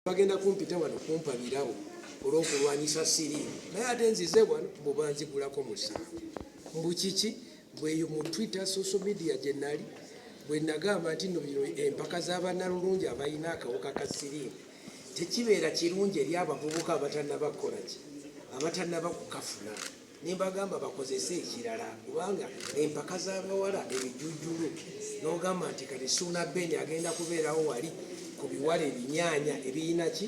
bagenda kumpita wano kumpa birawo olwokulwanyisa siri naye ate nzize wano bubanzigulako musango mbukiki bweyo mu twitter social media gyenali bwenagamba nti no bino empaka zabanalulungi abalina akawuka ka sirimu tekibeera kirungi eri abavubuka abatanabakolaki abatanabakukafunaa nembagamba bakozese ekirala kubanga empaka zabawala ebijujulu nogamba nti kati suuna beni agenda kubeerawo wali ku biwala ebinyanya ebiyina ki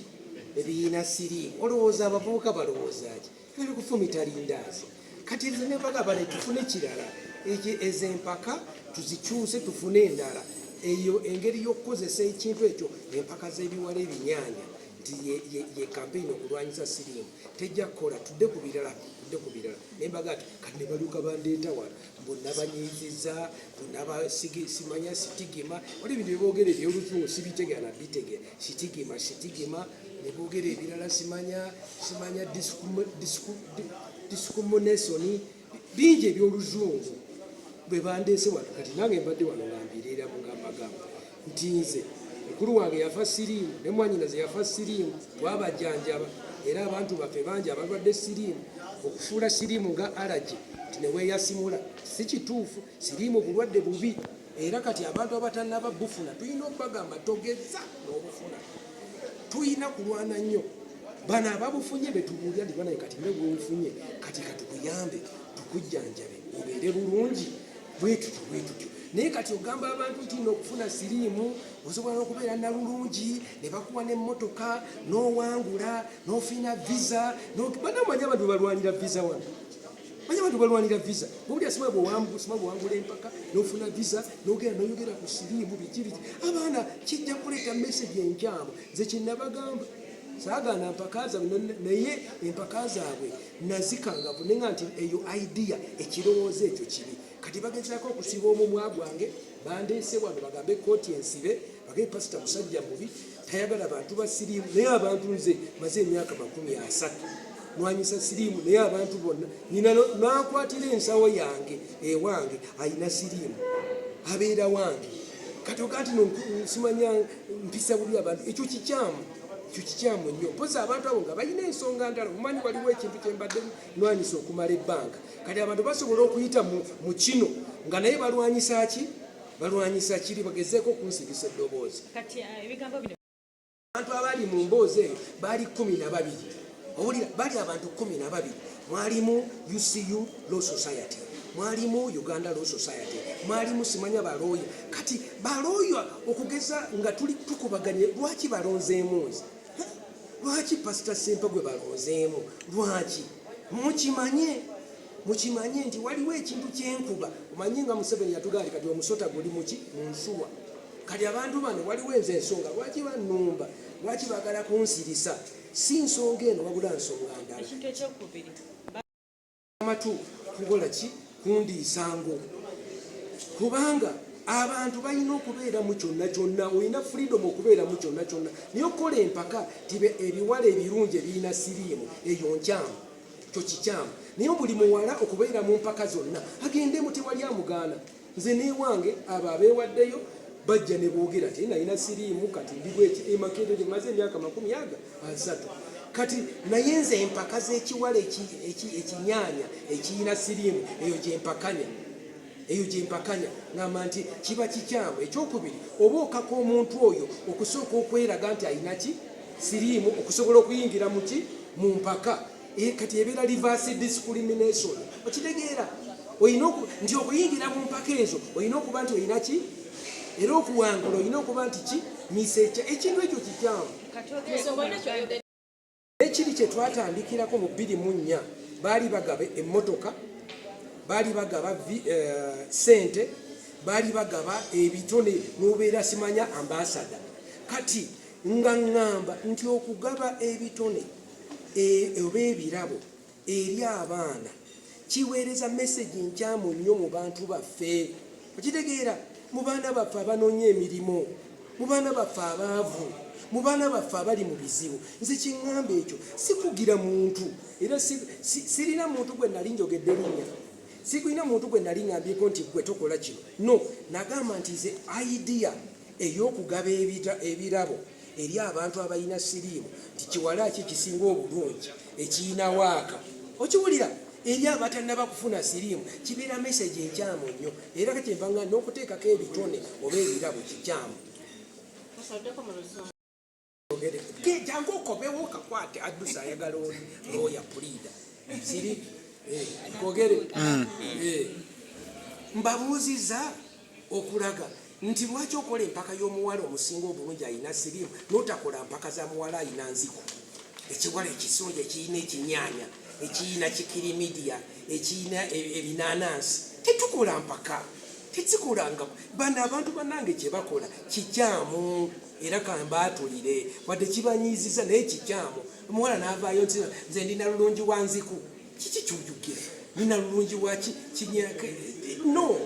ebiyina siriimu olowooza abavubuka balowooza ki bali kufumita lindaazi kati ezo nempaga bale tufune kirala ezo empaka tuzikyuse tufune endala eyo engeri y'okukozesa ekintu ekyo empaka z'ebiwala ebinyanya nti ye kampeyini okulwanyisa siriimu tejja kukola tudde ku birala tudde ku birala naye mbaga ati kati ne baluka bandeeta wano mbu nabanyiiziza mbu nabasimanya sitigima wali ebintu byeboogera ebyoluzungu sibitegera na bitegera sitigima sitigima ne boogera ebirala simanya simanya disikumonesoni bingi ebyoluzungu bwe bandeese wano kati nange mbadde wano nga mbireera mugambagamba nti nze mukulu wange yafa siriimu ne mwanyinaze yafa siriimu twabajanjaba era abantu baffe bangi abalwadde siriimu okufuula siriimu nga alagi nti neweeyasimula si kituufu siriimu bulwadde bubi era kati abantu abatanaba bufuna tulina okubagamba togeza nobufuna tulina kulwana nnyo bano ababufunye betubuulira ndi banaye kati nebwobufunye kati katukuyambe tukujjanjabe obeere bulungi bwetutyo bwetutyo naye kati ogamba abantu nti nokufuna siriimu osobola nokubeera nalulungi nebakuwa nemotoka nowangula nofina visa banamanya abantu balwanira visa wano Manya abantu balwanira visa gobuli asima bwewambusima bwewangula empaka nofuna visa nogera noyogera ku siriimu biki biki abaana kijja kuleeta message enkyamu nze kyenabagamba sagana mpaka zabwe naye empaka zabwe nazikangavu naye nga nti eyo idea ekirowoozo ekyo kibi kati bagezako okusiba omumwa gwange bandeese wano bagambe kooti ensibe bagee pasita musajja mubi tayagala bantu ba siriimu naye abantu nze maze emyaka makumi asatu nwanyisa siriimu naye abantu bonna nyina nakwatira ensawo yange ewange ayina siriimu abeera wange kati okati nosimanya mpisa buli abantu ekyo kikyamu ekyo kikyamu nnyo mpozi abantu abo nga balina ensonga ndala omumanyi waliwo ekintu kyembadde nwanyisa okumala ebbanga kati abantu basobola okuyita mu kino nga naye balwanyisa ki balwanyisa kiri bagezeeko okunsibisa eddoboozi uh, abantu abali mu mboozi eyo baali kumi na babiri owulira bali abantu kumi na babiri mwalimu ucu law society mwalimu uganda law society mwalimu simanya balooya kati balooya okugeza nga tuli tukubaganye lwaki balonzeemu nze lwaki pasita simpe gwe balonzeemu lwaki mukimanye mukimanye nti waliwo ekintu kyenkuba omanyi nga museveni yatugaa nti kati omusota guli muki munsuwa kati abantu bano waliwo enze ensonga lwaki banumba lwaki bagala kunsirisa si nsonga eno wabula nsonga ndala amatu kukola ki kundiisango kubanga abantu balina okubeeramu kyonna kyonna olina freedom okubeeramu kyonna kyonna naye okukola empaka tibe ebiwala ebirungi ebirina siriimu eyo nkyamu kyo kikyamu naye buli muwala okubeera mu mpaka zonna agendemu tewali amugaana nze newange abo abeewaddeyo bajja ne boogera ti nalina siriimu kati ndibweki emakerere eh, maze emyaka makumi aga asatu kati naye nze empaka z'ekiwala ekinyaanya ekiyina siriimu eyo gyempakanya Eyo gye mpakanya, ngamba nti kiba kikyamu, eky'okubiri, oba okaka omuntu oyo okusooka okweraga nti alina ki? Siriimu, okusobola okuyingira mu ki? Mu mpaka. E, kati ebeera reverse discrimination. Okitegeera? Olina oku, nti okuyingira mu mpaka ezo olina okuba nti olina ki? Era okuwangula olina okuba nti ki? Misecha. Ekintu ekyo kikyamu. Ekiri kye twatandikirako mu bbiri mu nnya baali bagaba emmotoka, baali bagaba eh, ssente, baali bagaba ebitone n'obeera simanya ambaasada. Kati nga ŋŋamba nti okugaba ebitone eh, oba ebirabo eri abaana kiweereza mesegi nkyamu nnyo mu bantu baffe okitegeera mu baana baffe abanoonya emirimu mu baana baffe abaavu mu baana baffe abali mu bizibu nze kyeŋŋamba ekyo sikugira muntu era sirina muntu gwe nali njogedde linnya sikulina muntu gwe nali ŋambyeko nti gwe tokola kino no nagamba nti ze idea ey'okugaba ebirabo eri abantu abalina siriimu nti kiwala ki kisinga obulungi ekiyina waaka okiwulira eri abatanaba kufuna siriimu kibeera mesegi enkyamu nnyo era kakyembanga n'okuteekako ebitone oba ebirabo kikyamu jangu okobewo kakwate addusa ayagala oli looya puliida siri eh, kogere mm. eh. mbabuuziza okulaga nti lwaki okola empaka y'omuwala omusinga obulungi alina sirimu notakola mpaka za muwala alina nziku ekiwala ekisonja ekirina ekinyanya ekirina kikirimidiya ekirina e, ebinanansi tetukola mpaka tekikolangako bano abantu banange kyebakola kikyamu era kambaatulire wadde kibanyiiziza naye kikyamu omuwala naavaayo nti nze ndi nalulungi wa nziku kiki kyojukira nina lulungi waki kinyaka no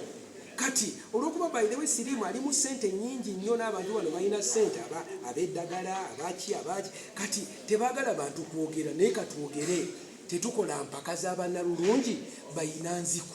kati olwokuba by the way sirimu alimu sente nyingi nnyo n'abantu bano balina sente aba abeddagala abaki abaki kati tebagala bantu kwogera naye katwogere tetukola mpaka za banalulungi bayina nziku